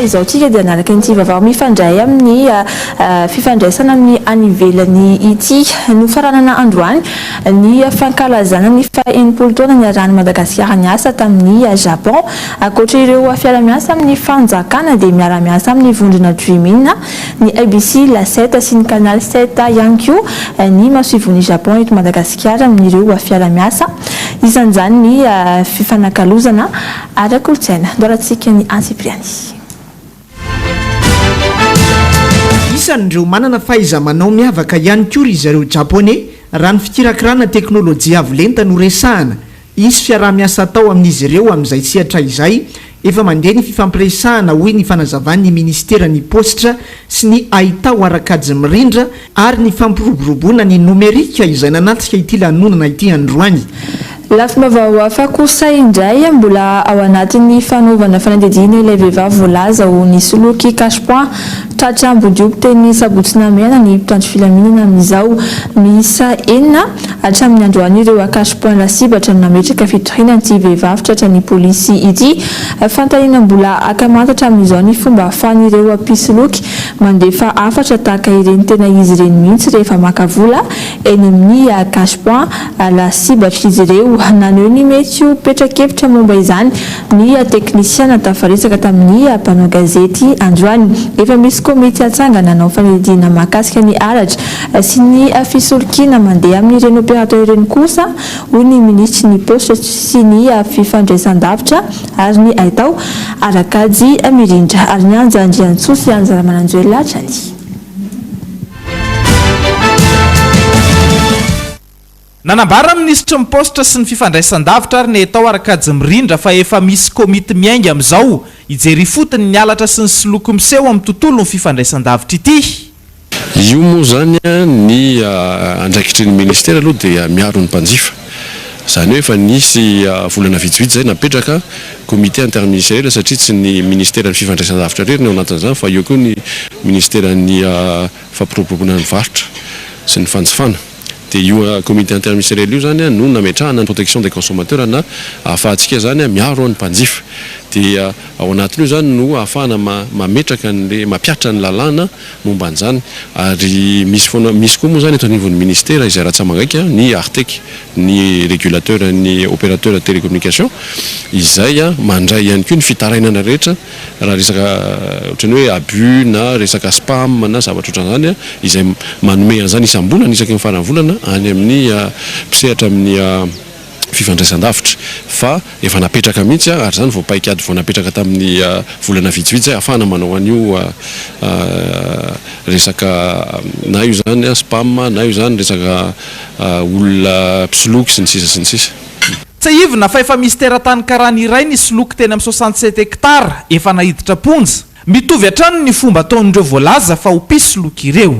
izaontsika dia nanaraka an'ity vavao mifandray amin'ny ah, ah, fifandraisana amin'ny any ivelany ity nofaranana androany ny fankalazana ny fahenipolo taona niarahan'ny madagasikara niasa tamin'ny ah, japon ankoatra ireo fiara-miasa amin'ny fanjakana dia miara-miasa amin'ny vondrona dreamina ny ABC, La Sept sy ny Canal Sept ihany koa ny masoivohon'i Japon eto Madagasikara amin'ireo fiara-miasa, isan'izany ny fifanakalozana ara-kolontsaina. Doaratsika ny antsipiriany. Isan'ireo manana fahaiza-manao miavaka ihany koa ry zareo Japoney raha ny fikirakirana teknolojia avo lenta no resahana. Hisy fiaraha-miasa atao amin'izy ireo amin'izay sehatra izay. Efa mandeha ny fifampiresahana, hoy ny fanazavan'ny minisiteran'ny Paositra sy ny Haitao ara-kajy mirindra ary ny fampiroboroboana ny nomerika izay nanatrika ity lanonana ity androany. Lafim-baovao hafa kosa indray, mbola ao anatin'ny fanaovana fanadihadiana ilay vehivavy voalaza ho nisoloky cache-points Tratry Ambondrioby teny Sabotsy Namehana ny mpitandro filaminana amin'izao. Miisa enina hatramin'ny androany ireo acache point lasibatra no nametraka fitoriana an'ity vehivavy tratran'ny polisy ity. Fantaniana mbola haka manta hatramin'izao ny fomba ahafahan'ireo mpisoloky mandefa hafatra tahaka ireny tena izy ireny mihitsy rehefa maka vola eny amin'ny acache point lasibatr'izy ireo. Naneho ny mety ho petra-kevitra momba izany Ny teknisiana tafaresaka tamin'ny mpanao gazety androany. Efa misy komity hatsangana hanao fanidinana mahakasika ny aratra sy ny fisolokiana mandeha amin'ny reny opérateur ireny kosa, hoy ny minisitry ny Paositra sy ny fifandraisandavitra ary ny haitao, Arakajy Mirindra, ary ny Anja Andriantsoa sy Anja Ramananjoelina hatrany. Nanambara ny minisitry ny Paositra sy ny fifandraisan-davitra ary ny Haitao Arkady Mirindra fa efa misy komity miainga amin'izao hijery ifotony ny halatra sy ny soloky miseho amin'ny tontolon'ny fifandraisan-davitra ity. Io moa izany ny andraikitry ny minisitera aloha dia miaro ny mpanjifa. Izany hoe efa nisy volana vitsivitsy izay napetraka komity interministeriel satria tsy ny minisiteran'ny fifandraisan-davitra irery no ao anatin'izany fa eo koa ny minisiteran'ny fampiroboroboana ny varotra sy ny fanjifana dia io comité interministériel io izany no nametrahana ny protection des consommateurs na ahafahantsika izany miaro ny mpanjifa dia ao anatin'io izany no ahafahana mametraka an'ilay mampiatra ny lalàna momba an'izany ary misy foana misy koa moa izany eto anivon'ny ministera izay ratsamangaika ny artec ny regulateur ny opérateur télécommunication izay mandray ihany koa ny fitarainana rehetra Raha resaka ohatran'ny hoe abus na resaka spam na zavatra ohatran'izany izay manome an'izany isam-bolana isaky ny faran'ny volana any amin'ny mpisehatra amin'ny fifandraisan-davitra fa efa napetraka mihitsy ary izany vao paik'ady vao napetraka tamin'ny volana vitsivitsy izay ahafahana manao an'io resaka na io izany spam na io izany resaka olona mpisoloky sy ny sisa sy ny sisa. Tsiahivina fa efa misy teratany karana iray nisoloky teny amin'ny soixante sept hectares efa naiditra am-ponja. Mitovy hatrany ny fomba ataon'ireo voalaza fa ho mpisoloky ireo.